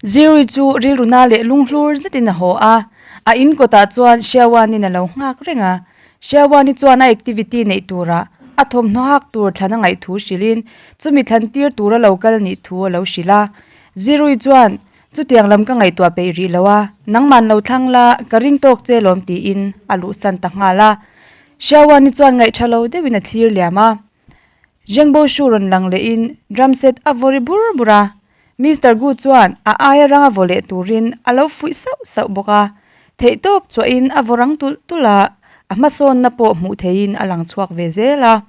Zirui chu rilruna leh lunghlur zetin a haw a, a in kawtah chuan Sherwani-in a lo nghak reng a. Sherwani chuan a activity neih turah a thawmhnaw hak tur thlan a ngaih thu hrilhin, chumi thlan tir tur a lo kal nih thu a lo hrilh a. Zirui chuan, Chutiang lam ka ngaihtuah peih rih lo a, nangma'n lo thlang la, ka ring tawk che lawm tiin a luhsan ta nghal a. Sherwani chuan ngaih tha lo deuhin a thlir liam a. Zhengbo Shu rawn lang lehin drum set a vaw ri bur bur a, Mister Gu chuan a aia rang a vaw leh turin a lo fuih sauh sauh bawk a, theihtawp chuahin a vaw rang tulh tulh a, a hmasawnna pawh hmuh theihin a lang chhuak ve zel a.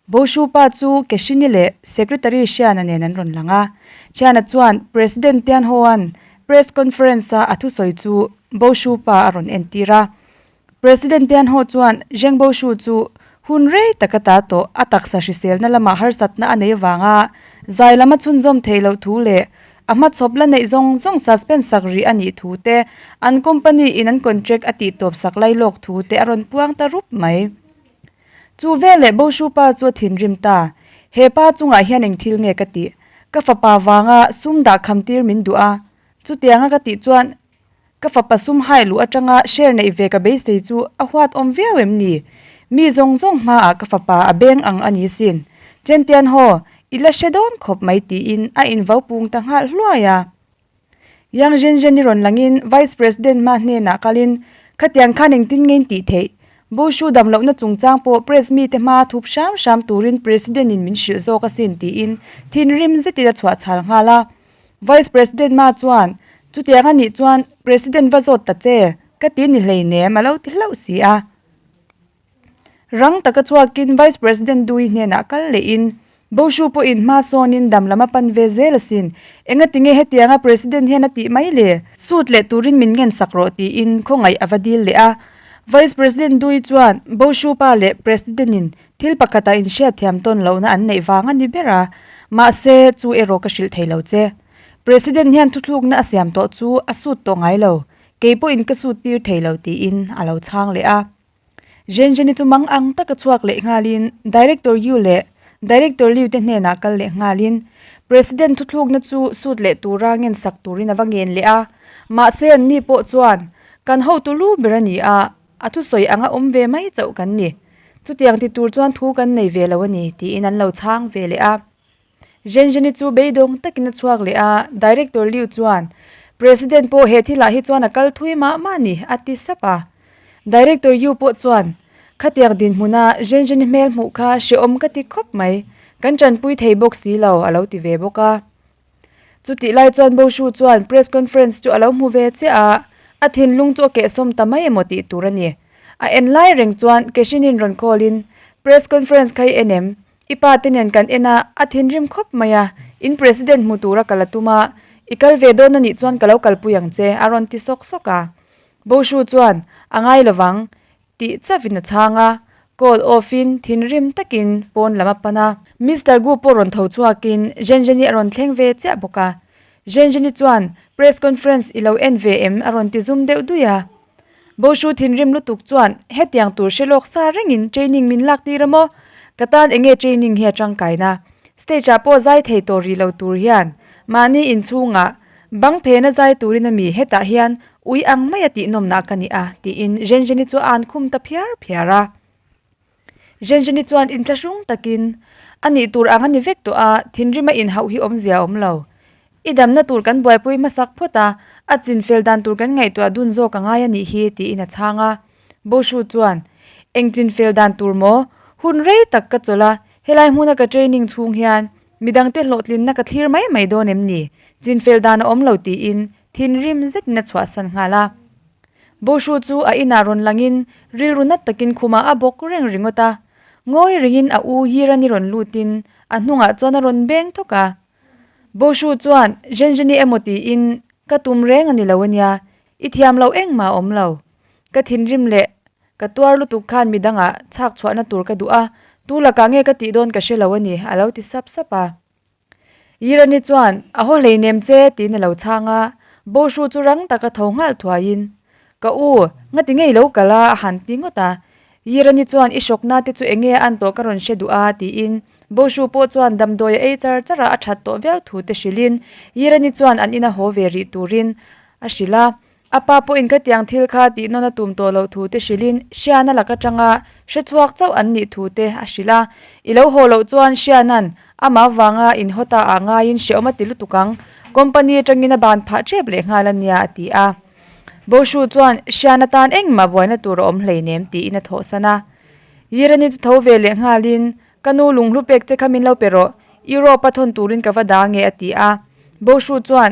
Bo Shu pa chu Ke Hri Ni leh Secretary Hriana nen an rawn lang a, Hriana chuan President Tian Hoan press conference-a a thusawi chu Bo Shu pa a rawn entir a, President Pianho chuan Zhengbo Shu chu hun rei tak a ta tawh a taksa hriselna lamah harsatna a nei vanga zai lama chhunzawm theih loh thu leh a hmachhawp la neih zawng zawng suspend sak rih a nih thu te, an company in an contract a tihtawp sak lai lawk thu te a rawn puang ta rup mai. Chu veleh Bo Shu pa chu a thinrim ta, He pa chungah hian eng thil nge ka tih? Ka fapa vanga sum dah khamtir min duh a, chutianga ka tih chuan Ka fapa sum high luh atanga share neih ve ka beisei chu a huatawm viau em ni? Mi zawng zawng hmaah ka fapa a beng ang a ni sin. Chentian haw i la hre dawn khawp mai tiin a invopung ta nghal hluai a. Yang Zhenzhen i rawn langin Vice President hma hnenah kalin, Khatiang khan engtin ngei'n tih theih? Bo hru dam lohna chungchang pawh Press mi te hmaa thup hram hram turin President-in min hrilh zawk asin tiin thinrim zetin a chhuah chhal nghal a. Vice President ma chuan, Chutiang a nih chuan President va zawt ta che ka ti ni hleinem a lo ti hlauh si a. Rang taka chhuakin Vice President Dui hnenah kal lehin, Bo Hru pawh in hma sawnin dam lama pan ve zel asin. Engatinge hetianga President hian a tih mai le? Sut leh turin min ngensak rawh tiin khawngaih a va dil leh a. Vice President Dui chuan Bo Hru pa leh President in Thil pakhatah inhriatthiam tawn lohna an neih vang a ni ber a, mahse chu erawh ka hrilh theilo che. President hian thuthlukna a siam tawh chu a sut tawh ngai lo, kei pawhin ka sut tir theilo tiin a lo chhang leh a. Zhenzheni chu mang ang taka chhuak leh nghalin Director Yu leh Director Liu te hnenah kal leh nghalin President thuthlukna chu sut leh tura ngensak turin a va ngen leh a, mahse an ni pawh chuan kan hotu lu ber a ni a. A thusawi anga awm ve mai chauh kan ni. Chutiang ti tur chuan thu kan nei ve lo a ni, tiin an lo chhang ve leh a. Zhenzheni chu beidawng takin a chhuak leh a, Director Liu chuan, President pawh he thilah hi chuan a kal thui mah mah ni, a ti sap a. Director Yu pawh chuan, Khatiang dinhmuna Zhenzheni hmel hmuh kha hreawm ka ti khawp mai, kan tanpui thei bawk si lo, a lo ti ve bawk a. Chutih lai chuan Bo Hru chuan press conference chu a lo hmu ve chiah a, a thinlung chu a kehsawm ta mai emaw tih tur a ni. A en lai reng chuan Keshinin rawn call in, Press conference kha i en em? I pa te nen kan en a, a thinrim khawp mai a, in President hmu tura ka la tum a, i kal ve dawn anih chuan ka lo kalpui ang che, a rawn ti sawk sawk a. Bo Hru chuan, A ngai lo vang, Tih chavin a chhang a, call off in thinrim takin pawn lam a pan a. Mister Gu pawh rawn tho chhuakin Zhenzheni a rawn thleng ve chiah bawk a. Zhenzheni chuan press conference i lo en ve em a rawn ti zum deuh duih a. Bo Hru thinrim lutuk chuan hetiang tur hre lawk sa rengin training min lak tir a maw? Ka tan enge training hi a tangkaina? Stage ah pawh zai thei tawh rih lo tur hian mahni inchhungah Bang phena zai turin a mi hetah hian ui ang mai a tihnawmna ka ni a, tiin Zhenzheni chu a an khum ta phiar phiar a. Zhenzheni chuan intla hrung takin, A nih tur ang a ni vek tawh a, thinrima inhauh hi awm zia awm lo. I damna tur kan buaipui hmasak phawt a, a chinfel dan tur kan ngaihtuah dun zawk a ngai a nih hi, tiin a chhang a. Bo Hru chuan, Eng chinfel dan tur maw? Hun rei tak ka chawlh a, helai hmuna ka training chhung hian Midang te hlawhtlinna ka thlir mai mai dawn em ni? Chinfel dan a awm lo tiin thinrim zetin a chhuahsan nghal a. Bo Hru chu a inah rawn langin rilru nat takin khumah a bawk reng ringawt a. Ngawi ringin a u Yirani rawn lutin a hnungah chuan a rawn beng thawk a. Bo Hru chuan, Zhenzheni emaw tiin ka tum reng a ni lo ania, i thiam loh engmah a awm lo. Ka thinrim leh Ka tuar lutuk khan midanga chhak chhuahna tur ka duh a, tu lakah nge ka tih dawn ka hre lo a ni, a lo ti sap sap a. Irani chuan, A haw hleinem che tiin a lo chhang a, Bohru chu rang taka tho nghal thuaiin, Ka u, ngati ngei lo kal a, a han ti ngawt a. Irani chuan, I shock nate chu enge a an tawh ka rawn hre duh a, tiin Bohru pawh chuan damdawi a ei char char a, a that tawh viau thu te hrilhin Irani chuan an ina haw ve rih turin a hrilh a. A pa pawhin khatiang thil kha tihnawn a tum tawh loh thu te hrilhin Siana lak atanga hre chhuak chauh an nih thu te a hrilh a. I lo haw loh chuan Siana'n ama vanga inhawta ah ngaiin hreawm a ti lutuk ang. Company atangin a ban phah tep leh nghal a nia, a ti a. Boshu chuan Siana tan engmah buaina tur a awm hleinem tiin a thawhsan a. Yirani chu tho ve leh nghalin, Ka nu lunghlu pek che kha min lo pe rawh, Europe a thawn turin ka va dah ange, a ti a. Boshu chuan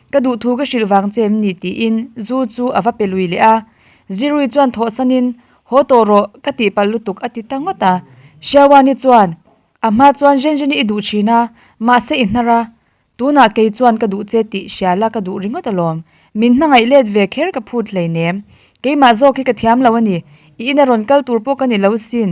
Ka duh thu ka hrilh vang che em ni? tiin Zu chu a va pe lui leh a. Zirui chuan thawhsan in, Haw tawh rawh, ka tihpalh lutuk, a ti ta ngawt a. Siawani chuan, A hma chuan zen zen i duh thin a, mahse i hnar a. Tunah kei chuan ka duh che tih hria la, ka duh ringawt alawm. Min hmangaih let ve kher ka phut hlei nem. Keimah zawk hi ka thiam lo a ni. I ina rawn kal tur pawh ka ni lo sin.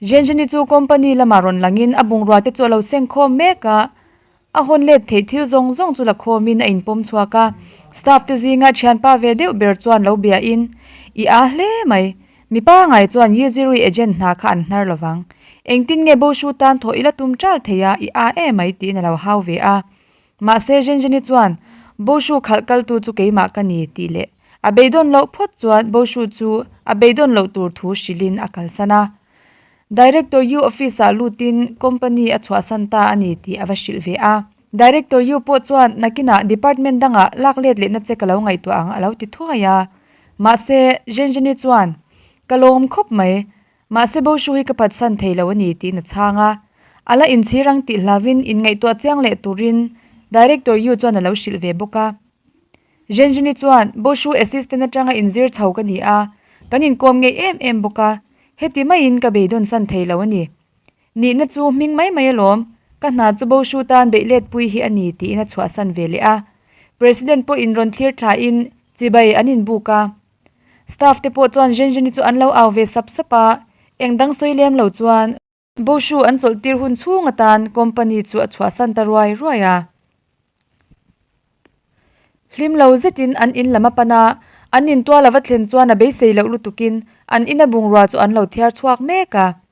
Zhenzheni chu company lama rawn langin a bungrua-te chu a lo seng khawm mek a, a hawn let theih thil zawng zawng chu la khawmin a inpawm chhuak a. Staff-te zinga thianpa ve deuh ber chuan lo biahin, I a hle mai. Mi pangngai chuan Yiziri agent hna kha an hnar lovang. Engtin nge Bo Shu tan thawh ila tum tal theia i a e mai tiin a lo hau ve a. Mahse Zhenzheni chuan, Bo Hru khalh kaltu chu keimah ka ni tih leh a beidawn loh phawt chuan Bo Hru chu a beidawn loh tur thu hrilhin a kalsan a. Director Yiu office ah lutin company a chhuahsan ta a ni tih a va hrilh ve a. Director Yiu pawh chuan nakinah department dangah lak let lehna che ka lo ngaihtuah ang a lo ti thuai a. Mahse Zhenzheni chuan, Ka lawm khawp mai, Mahse Bo Hru hi ka phatsan thei lo a ni tiin a chhang a, a la inchhir ang tih hlauvin inngaihtuah chiang leh turin Director Yu chuan a lo hrilh ve bawk a. Zhenzhini chuan, Bo Hru assistant atanga inzir chho ka ni a, kan inkawm ngei em em bawk a, heti maiin ka beidawn san thei lo a ni. Nihna chu hming mai mai alawm, ka hna chu Bo Hru tan beihletpui hi a ni tiin a chhuahsan ve leh a. President pawhin rawn thlir thlahin chibai an inbuk a. Staff te pawh chuan Zhen Zheni chu an lo au ve sap sap a, eng dang sawi lem lo chuan. Bo Shu an chawlh tir hun chhung atan company chu a chhuah san ta ruai ruai a. Hlim lo zetin an in lam a pan a, an in tual a va thlen chuan a beisei loh lutukin an in a bungrua chu an lo thiar chhuak mek a.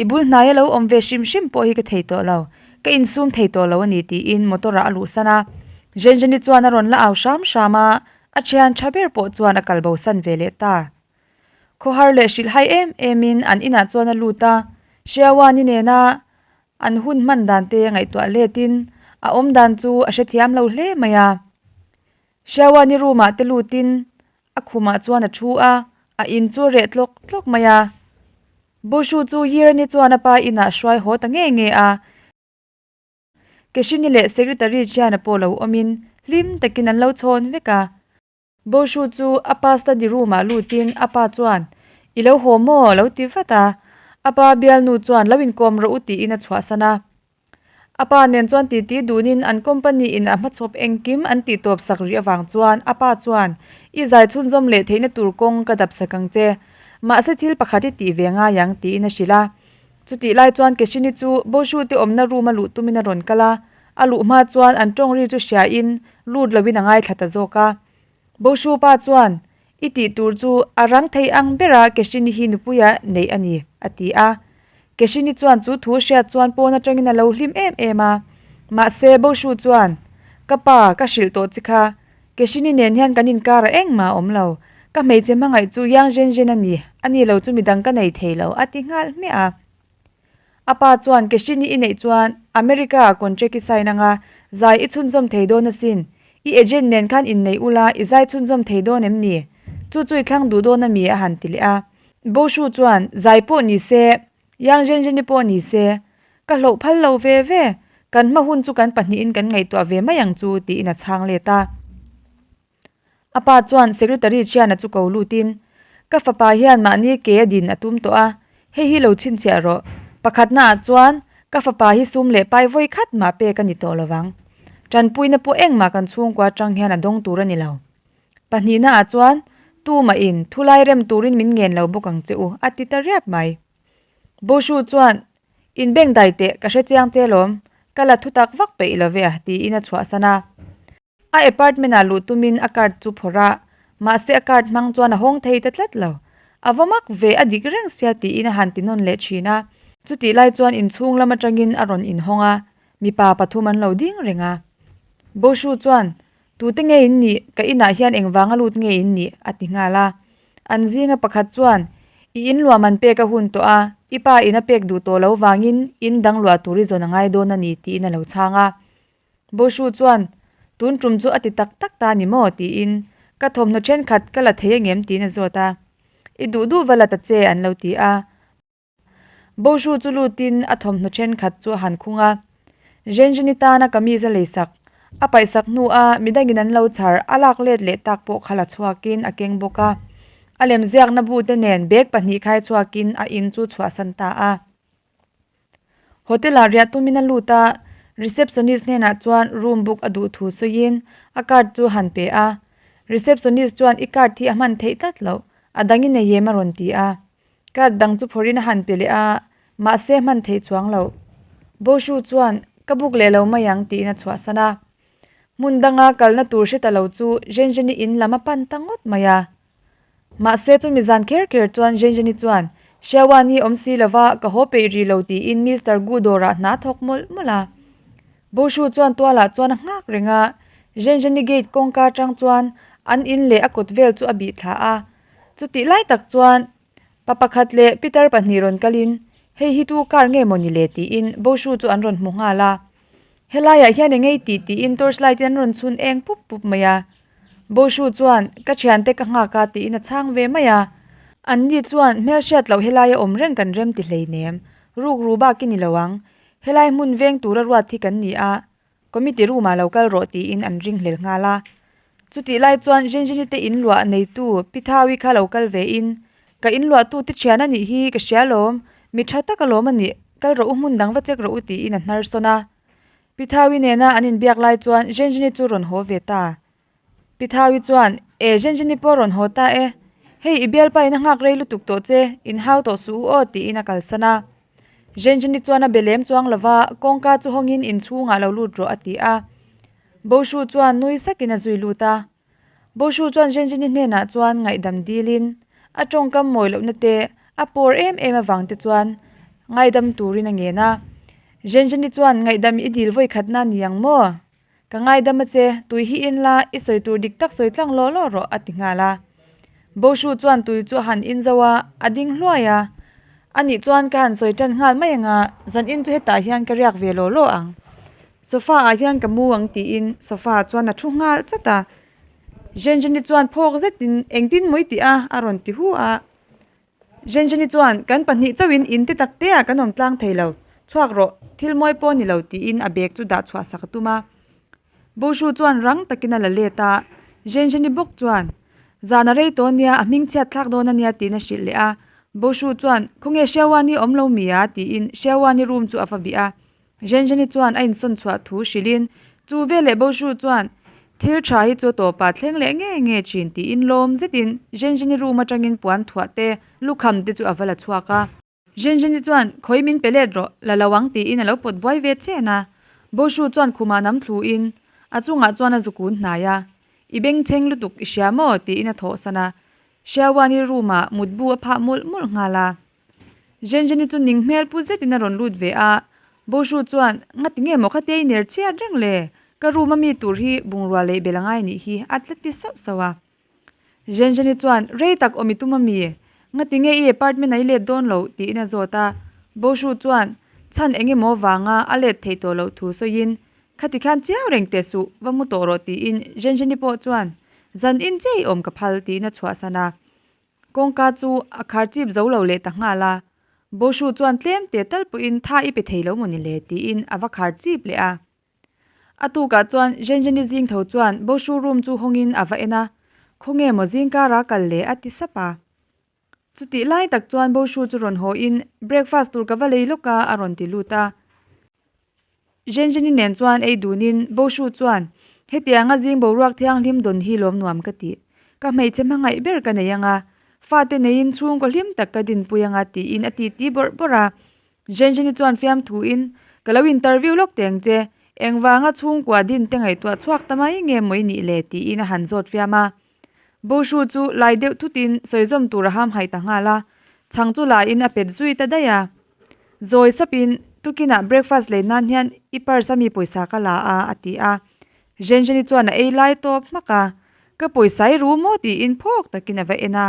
I bul hnai a lo awm ve hrim hrim pawh hi ka thei tawh lo, ka insum thei tawh lo a ni tiin motor ah a luhsan a. Zhenzheni chuan a rawn la au hram hram a, a thian tha ber pawh chuan a kalbo san ve leh ta. Khawhar leh hrilhhai em em in an inah chuan a lut a, Hriawani nena an hun hman dan te ngaihtuah let in a awm dan chu a hrethiam lo hle mai a. Hriauani roomah te lutin a khumah chuan a thu a, a in chu a reh tlawk tlawk mai a. Bushu chu Yirani chuan a pa inah a hruai haw ta ngei ngei a. Keshini leh Secretary Chiana pawh lo awmin hlim takin an lo chhawn vek a. Bushu chu a pa study roomah lutin a pa chuan, I lo haw maw? lo ti vat a. A pa bialnu chuan, Lo inkawm rawh u tiin a chhuahsan a. A pa nen chuan titi duhnin an company in a hmachhawp engkim an tihtawp sak rih avang chuan a pa chuan, I zai chhunzawm leh theihna tur kawng ka dap sak ang che. Mahse thil pakhat i tih ve ngai ang, tiin a hrilh a. Chutih lai chuan Keshini chu Boshu te awmna room a luh tumin a rawn kal a. A luh hma chuan an tawngri chu hria in lut loin a ngaithla ta zawk a. Boshu pa chuan, I tih tur chu a rang thei ang ber a Keshini hi nupuia neih a ni, a ti a. Keshini chuan chu thu hriat chuan pawn atangin a lo hlim em em a. Mahse, Boshu chuan, Ka pa, ka hrilh tawh chi kha. Keshini nen hian kan inkar a engmah awm lo. Ka hmeichhe hmangaih chu Yang Zhenzhen a ni, a ni lo chu midang ka nei thei lo, a ti nghal hmiah a. A pa chuan Keshini i neih chuan America ah contract i sign anga zai i chhunzawm thei dawn asin. I agent nen khan in neih ula i zai chhunzawm thei dawn em ni? Chu chu i thlang duh dawn ami a han ti leh a. Boshu chuan Zai pawh ni se, Yang Zhenzheni pawh ni se, ka hloh phal lo ve ve. Kan hma hun chu kan pahnihin kan ngaihtuah ve mai ang chu tiin a chhang let a. A pa chuan secretary Chiana chu ko lutin, Ka fapa hian mahni ke a din a tum tawh a, hei hi lo chhinchhiah rawh. Pakhat hnaah chuan, Ka fapa hi sum leh pai vawi khat mah pek a ni tawh lo vang. Tanpuina pawh engmah kan chhungkua atang hian a dawng tur a ni lo. Pahnih hnaah chuan, Tu mah in, thu lai rem turin min ngen lo bawk ang che u, a ti ta riap mai. Boshu chuan, In beng dai teh, ka hre chiang che lawm. Ka la thutak vak peih lo ve a, tiin a chhuahsan a. A apartment ah luh tum in a card chu phawrh a, mahse a card hmang chuan a hawng thei ta tlat lo. A va mak ve a dik reng sia tiin a han tinawn leh thin a, chutih lai chuan inchhung lam atangin a rawn inhawng a, mipa pathum an lo ding reng a. Boshu chuan, Tute nge in nih, ka inah hian engvanga lut nge in nih? a ti nghal a. An zinga pakhat chuan, I in luam an pek a hun tawh a, i pa in a pek duh tawh lo vangin in dangluah tur i zawn a ngai dawn a ni tiin a lo chhang a. Bo Hru chuan, Tun tum chu a ti tak tak ta ni maw? tiin, Ka thawmhnaw thenkhat ka la thei angem? tiin a zawt a, I duh duh va la ta che an lo ti a. Bo Hru chu lutin a thawmhnaw thenkhat chu a han khung a, Zhenzheni tana ka mi zalei sak, a paih sak hnua mi dangin an lo chhar, a lak let leh tak pawh kha la chhuakin a keng bawk a, a lemziakna bute nen bag pahnih khai chhuakin a in chu chhuahsan ta a. Hotel ah riah tumin a lut a, receptionist hnenah chuan room book a duh thu sawiin a card chu han pe a. Receptionist chuan i card hi a hman theih tlat loh, a dangin a yem a rawn ti a. Card dang chu phawrhin a han pe leh a, mahse a hman theih chuang loh. Bo Hru chuan, Ka book leh lo mai ang tiin a chhuahsan a. Hmun danga kalna tur hre ta lo chu Zhenzhen-i in lam a pan ta ngawt mai a. Mahse, chumi zan kher kher chuan Zhenzheni chuan, Shiawani awm si lo va, ka haw peih rih lo tiin Mister Gu dawrah hna thawk mawlh mawlh a. Bo Shu chuan tualah chuan a nghak reng a, Zhenzheni gate kawngka atang chuan an in leh a kut vel chu a bih thla a. Chutih lai tak chuan Pa pakhat leh Pitar pahnih rawn kal in, Hei hi tu kar nge maw ni le? tiin Boshu chu an rawn hmu nghal a. Helaiah hian eng ngei tih tiin torchlight in an rawn chhun eng pup pup mai a. Boshu chuan, Ka thian te ka nghak a, tiin a chhang ve mai a. An ni chuan, Hmelhriat loh helai a awm reng kan rem ti hleinem. Ruk ru bak i ni lo ang. Helai hmun veng tura ruat hi kan ni a. Committee room ah lo kal rawh tiin an ring hlel nghal a. Chutih lai chuan Zhenzhini te in luah neitu Pi Thawi kha lo kal ve in, Ka in luah tu te thian a nih hi ka hria lawm, mi tha tak alawm a nih, kal rawh u hmun dang va check rawh u tiin a hnarsawn a. Pi Thawi nena an in biak lai chuan Zhenzhini chu rawn haw ve ta. Pi Thau-i chuan, E, Zhenzhen-i pawh rawn haw ta e, hei i bialpa ina nghak rei lutuk tawh che, inhau tawh suh u aw, tiin a kalsan a. Zhenzhen-i chuan a be lem chuang lo va, kawngka chu hawngin in chhungah lo lut rawh, a ti a. Bo Hru chuan nui sakin a zui lut a. Bo Hru chuan Zhenzhen-i hnenah chuan ngaihdam dilin, a tawngkam mawi lohna te, a pawr em em avang te chuan ngaidam turin a ngen a, Zhenzhen-i chuan, Ngaihdam i dil vawi khatna ni ang maw? Ka ngaidam a che, tui hi in la, i sawi tur dik tak sawi tlang law law rawh, a ti nghal a. Bo Hru chuan tui chu a han in zo a, a ding hluai a. A nih chuan ka han sawi tan nghal mai anga, zan in chu hetah hian ka riak ve law law ang. Sofa ah hian ka mu ang tiin sofa ah chuan a thu nghal chat a. Zhen Zhen-i chuan phawk zetin engtin mawi tih a, a rawn ti hu a. Zhenzheni chuan, Kan pahnih chauhin in te tak teah kan awm tlang thei lo, chhuak rawh, thil mawi pawh ni lo tiin a bag chu dah chhuah sak a tum a. Bo Hru chuan rang takin a la let a, Zhenzheni bawk chuan, Zan a rei tawn nia, a hming chhiatthlak dawn a nia tiin a hrilh leh a. Bo Hru chuan, Khawnge Hriauani awm lo mi a? tiin Hriauani room chu a va bih a. Zhenzheni chuan a insawn chhuah thu hrilhin, Chu veleh Bohru chuan thil tha hi chu a tawpa thleng leh nge nge thin, tiin lawm zetin Zhenzheni room atangin puan thuah te, lukham te chu a va la chhuak a. Zhenzheni chuan, Khawi min pe let rawh la lo ang tiin a lo pawt buai ve chen a. Bohru chuan khumah nam thluin a chungah chuan a zuk un hnai a, I bengchheng lutuk i hria maw? tiin a thawhsan a. Hriawani room ah mutbu a phah mawlh mawlh nghal a. Zhenzheni chu ning hmel pu zetin a rawn lut ve a, Boshu chuan, Nga ti nge maw khati a iner chiat reng le, ka room a mi tur hi bungrua lei bel angai nih hi, a tla ti sauh sauh a. Zhenzheni chuan, Rei tak awm i tum a mi? Nga ti nge i apartment a i let dawn lo? tiin a zawt a, Boshu chuan, Chhan eng emaw vanga a let thei tawh loh thu sawiin, khati khan chiau reng te suh va ngu tawh rawh tiin Zhenzheni pawh chuan, Zan in chiah i awm ka phal tiin a chhuahsan a. Kawngka chu a khar chip zo lo leh ta nghal a, Boshu chuan tlem teh tal pawhin tha i pe thei lo maw ni le tiin a va khar chip leh a. A tukah chuan Zhenzheni zing tho chuan Boshu room chu hawngin a va en a, Khawnge maw zing kar a kal leh a ti sap a. Chutih lai tak chuan Boshu chu rawn haw in, Breakfast tur ka va lei lawk a a rawn ti lut a. Zhenzheni nen chuan ei dunin, Bo Hru chuan, Hetianga zing boruak thianghlim dawn hi lawm nuam ka ti. Ka hmeichhe hmangaih ber ka nei anga, fate neiin chhungkaw hlim tak ka dinpui anga tiin a titi bawrh bawrh a. Zhenzheni chuan fiam thuin, Ka lo intar viau lawk teng che, engvanga chhungkua din te ngaihtuah chhuak ta mai nge mawni le? tiin a han zawt fiam a. Bo Hru chu lai deuh thutin sawizawm tur a hamhai ta nghal a, chhang chu laiin a pet zui ta daih a. Zawi sapin Tukinah breakfast lei nan hian i parsa mi pawisa ka la a, a ti a. Zhenzheni chuan a ei lai tawp hmak a, ka pawisa i ru maw tiin phawk takin a va en a.